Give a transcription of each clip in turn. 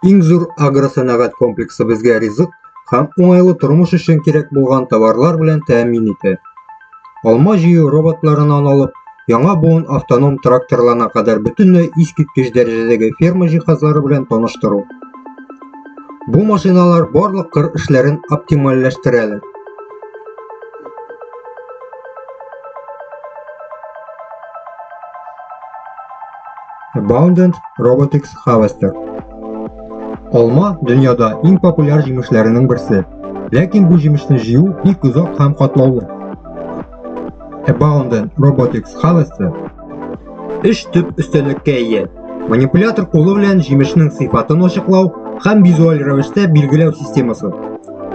Иң зур агросәнәгать комплексы безгә ризык һәм уңайлы тормыш өчен кирәк булган товарлар белән тәэмин итә. Алма җыю роботларынан алып, яңа буын автоном тракторларына кадәр бөтенләй искиткеч дәрәҗәдәге ферма җиһазлары белән таныштыру. Бу машиналар барлык кыр эшләрен оптимальләштерәләр. Abundant Robotics Harvester. Алма дөньяда иң популяр җимешләренең берсе. Ләкин бу җимешне җыю бик озак һәм катлаулы. Abundant Robotics Harvester Эш төп өстәлеккә ия. Манипулятор кулы белән җимешнең сыйфатын ачыклау һәм визуаль рәвештә билгеләү системасы.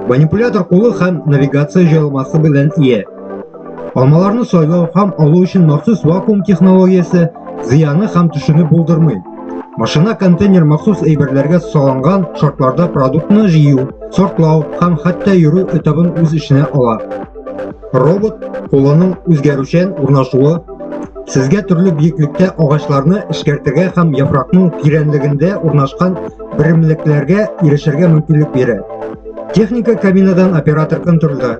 Манипулятор кулы һәм навигация җайланмасы белән ия. Алмаларны сайлау һәм алу өчен махсус вакуум технологиясе зыяны һәм төшүне булдырмый. Машина контейнер махсус әйберләргә салынган шартларда продуктны җыю, сортлау һәм хәтта йөрү этабын үз эченә ала. Робот кулының үзгәрүчән урнашуы сезгә төрле биеклектә агачларны эшкәртергә һәм яфракның тирәнлегендә урнашкан берәмлекләргә ирешергә мөмкинлек бирә. Техника кабинадан оператор контрольдә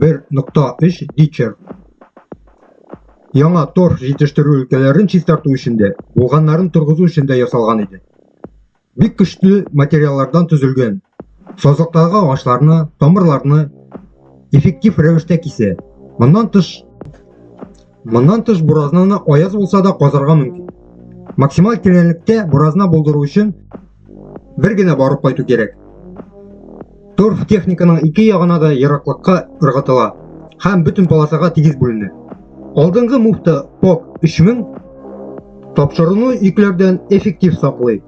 1.3 Дичер яңа торф җитештерү өлкәләрен чистарту өчен дә, булганнарын торгызу өчен дә ясалган иде. Бик көчле материаллардан төзелгән. Сазлыктагы агачларны, тамырларны эффектив рәвештә кисә. Моннан тыш, Моннан тыш буразнаны аяз булса да казарга мөмкин. Максималь тирәнлектә буразна булдыру өчен бер генә барып кайту кирәк. Торф техниканың ике ягына да ераклыкка ыргытыла һәм бөтен полосага тигез бүленә. Алдынгы муфта ПОК 3000 тапшыруны йөкләрдән эффектив саклый.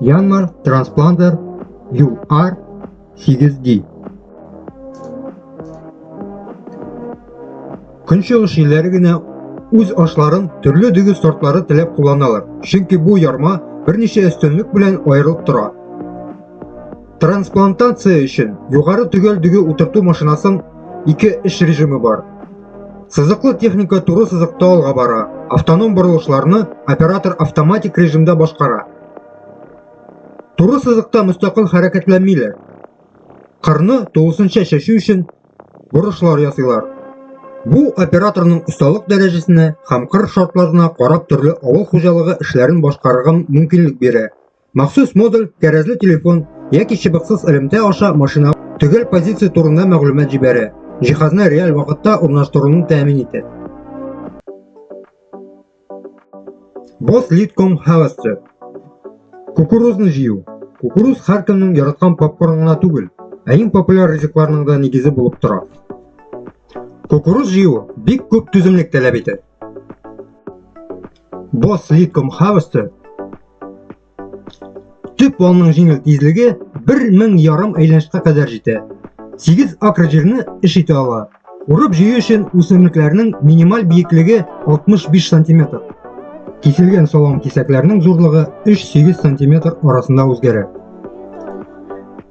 Янмар транспламдер UR 8D. Көнчыгыш илләре генә үз ашларын төрле дөге сортлары теләп кулланалар, чөнки бу ярма берничә өстенлек белән аерылып тора. Трансплантация өчен югары төгәл дөге утырту машинасын ике эш режимы бар. Сызыклы техника туры сызыкта алга бара, автоном борылышларны оператор автоматик режимда башкара. Туры сызыкта мөстәкыйль хәрәкәтләнмиләр. Кырны тулысынча чәчү өчен борышлар ясыйлар. Бу операторның осталык дәрәҗәсенә һәм кыр шартларына карап төрле авыл хуҗалыгы эшләрен башкарырга мөмкинлек бирә. Махсус модуль, тәрәзле телефон яки чыбыксыз элемтә аша машина төгәл позиция турында мәгълүмат җибәрә, җиһазны реаль вакытта урнаштыруны тәэмин итә. Boss Leadcom Havasser Кукурузны җыю. Кукуруз һәркемнең яраткан попкорн гына түгел, ә иң популяр ризыкларның да нигезе булып тора. Кукуруз җыю бик күп түземлек таләп итә. Бос литком хавысты төп валның җиңел тизлеге 1000 ярым әйләнешкә кадәр җитә. 8 акр җирне эш итә ала. Урып җыю өчен үсемлекләрнең минималь биеклеге 65 сантиметр. Киселгән салам кисәкләрнең зурлыгы 3-8 сантиметр арасында үзгәрә.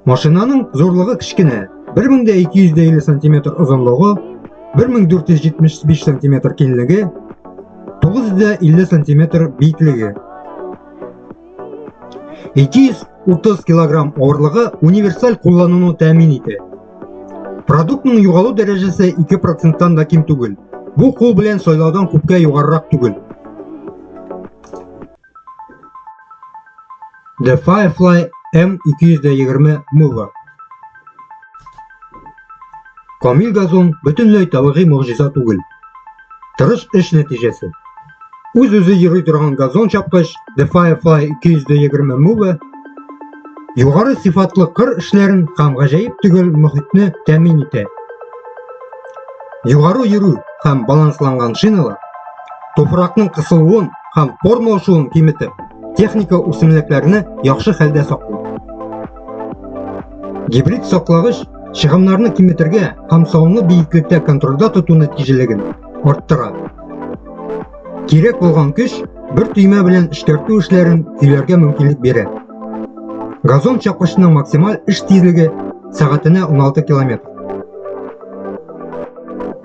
Машинаның зурлыгы кечкенә, 1250 сантиметр озынлыгы, 1475 сантиметр киңлеге, 950 сантиметр биеклеге. 230 килограмм авырлыгы универсаль куллануны тәэмин итә. Продуктның югалу дәрәҗәсе 2%-тан да ким түгел. Бу кул белән сайлаудан күпкә югарырак түгел. The Firefly M220 Mover Камил газон бөтенләй табигый могҗиза түгел. Тырыш эш нәтиҗәсе. Үз-үзе йөри торган газон чапкыч The Firefly 220 Move югары сыйфатлы кыр эшләрен һәм гаҗәеп төгәл мөхитне тәэмин итә. Югары йөрү һәм балансланган шиналар туфракның кысылуын һәм формалашуын киметеп, техника үсемлекләрне яхшы хәлдә саклый. Гибрид саклагыч чыгымнарны киметергә һәм салымны биеклектә контрольдә тоту нәтиҗәлеген арттыра. Кирәк булган көч бер төймә белән эшкәртү эшләрен көйләргә мөмкинлек бирә. Газон чапкычының максималь эш тизлеге сәгатенә 16 километр.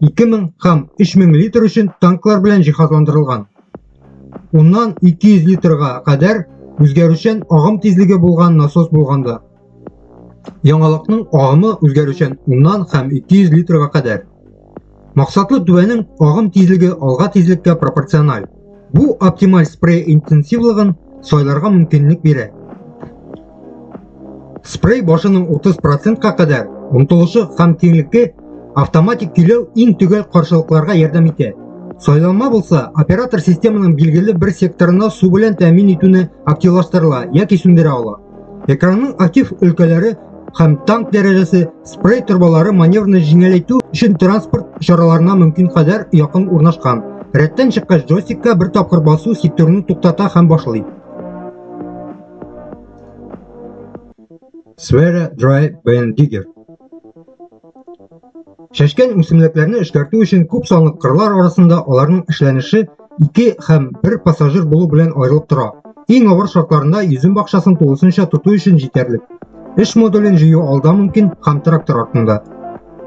2000 һәм 3000 литр өчен танклар белән җиһазландырылган. Уннан 200 литрга кадәр үзгәрүчән агым тизлеге булган насос булганда. Яңалыкның агымы үзгәрүчән уннан һәм 200 литрга кадәр. Максатлы түбәнең агым тизлеге алга тизлеккә пропорциональ. Бу оптималь спрей интенсивлыгын сайларга мөмкинлек бирә. Спрей башының 30%-ка кадәр омтылышы һәм киңлекке автоматик көйләү иң төгәл каршылыкларга ярдәм итә. Сайланма булса, оператор системаның билгеле бер секторына су белән тәэмин итүне активлаштырыла яки сүндерә ала. Экранның актив өлкәләре һәм танк дәрәҗәсе спрей торбалары маневрны җиңеләйтү өчен транспорт чараларына мөмкин кадәр якын урнашкан. Рәттән чыккач джойстикка бер тапкыр басу сектурны туктата һәм башлый. Sfera Dry Band Digger Чәчкән үсемлекләрне эшкәртү өчен күп санлы кырлар арасында аларның эшләнеше ике һәм бер пассажир булу белән аерылып тора. Иң авыр шартларында йөзем бакчасын тулысынча тоту өчен җитәрлек. Эш модулен җыю алда мөмкин һәм трактор артында.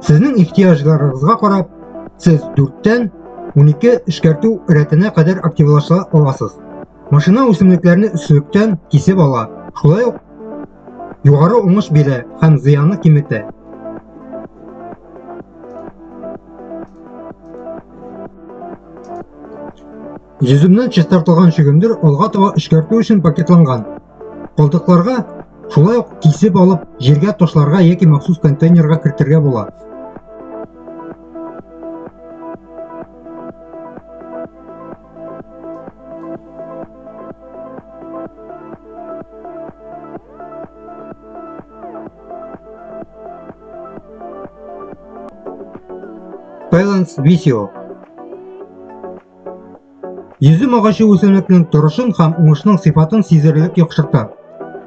Сезнең ихтыяҗларыгызга карап, сез 4-тән 12 эшкәртү рәтенә кадәр активлаша аласыз. Машина үсемлекләрне өслектән кисеп ала. Шулай ук Югары уңыш бирә һәм зыяны киметә. Йөземнән чистартылган чөгендер алга таба эшкәртү өчен пакетланган. Калдыкларга шулай ук кисеп алып, җиргә ташларга яки махсус контейнерга кертергә була. Balance Visio Йөзем агачы үсемлекнең торышын һәм уңышның сыйфатын сизелерлек яхшырта.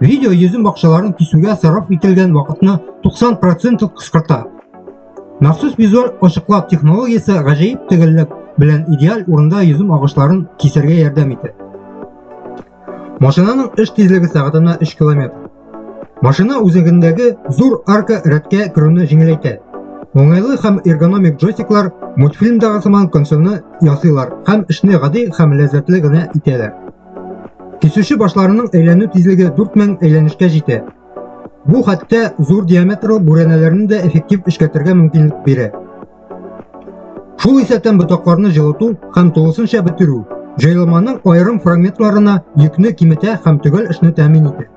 Видео йөзем бакчаларын кисүгә сарыф ителгән вакытны 90% кыскарта. Махсус визуаль ачыклау технологиясе гаҗәеп төгәллек белән идеаль урында йөзем агышларын кисәргә ярдәм итә. Машинаның эш тизлеге сәгатенә 3 км. Машина үзәгендәге зур арка рәткә керүне җиңеләйтә. Уңайлы һәм эргономик джойстиклар мультфильмдагы сыман консольны ясыйлар һәм эшне гади һәм ләззәтле генә итәләр. Кисүче башларының әйләнү тизлеге 4000 әйләнешкә җитә. Бу хәтта зур диаметрлы бүрәнәләрне дә эффектив эшкәртергә мөмкинлек бирә. Шул исәптән ботакларны җылыту һәм тулысынча бетерү җайланманың аерым фрагментларына йөкне киметә һәм төгәл эшне тәэмин итә.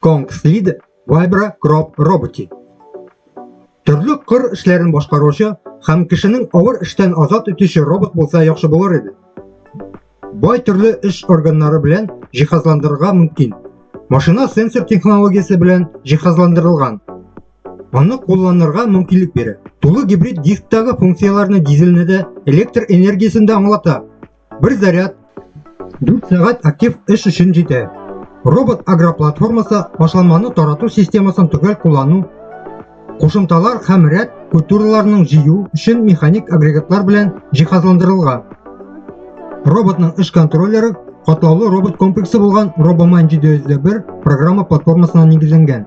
Конгслид Вайбра Кроп роботы. Төрле кыр эшләрен башкаручы һәм кешенең авыр эштән азат итүче робот булса яхшы булыр иде. Бай төрле эш органнары белән җиһазландырырга мөмкин. Машина сенсор технологиясе белән җиһазландырылган. Аны кулланырга мөмкинлек бирә. Тулы гибрид дисктагы функцияләрне дизельне дә электр энергиясен дә аңлата. Бер заряд 4 сәгать актив эш өчен җитә. Робот агроплатформасы башланманы тарату системасын төгәл куллану, кушымталар һәм рәт культураларының җыю өчен механик агрегатлар белән җиһазландырылган. Роботның эш контроллеры катлаулы робот комплексы булган RoboMan 701 программа платформасына нигезләнгән.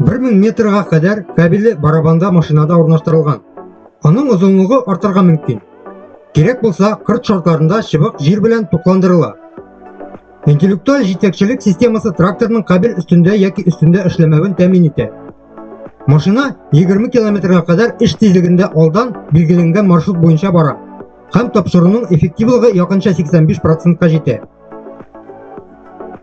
Бер мең метрга кадәр кабеле барабанда машинада урнаштырылган. Аның озынлыгы артырга мөмкин. Кирәк булса, кырт шартларында чыбык җир белән тукландырыла. Интеллектуаль җитәкчелек системасы тракторның кабель өстендә яки өстендә эшләмәвен тәмин итә. Машина 20 километрга кадәр эш тизлегендә алдан билгеләнгән маршрут буенча бара һәм тапшыруның эффективлыгы якынча 85 процентка җитә.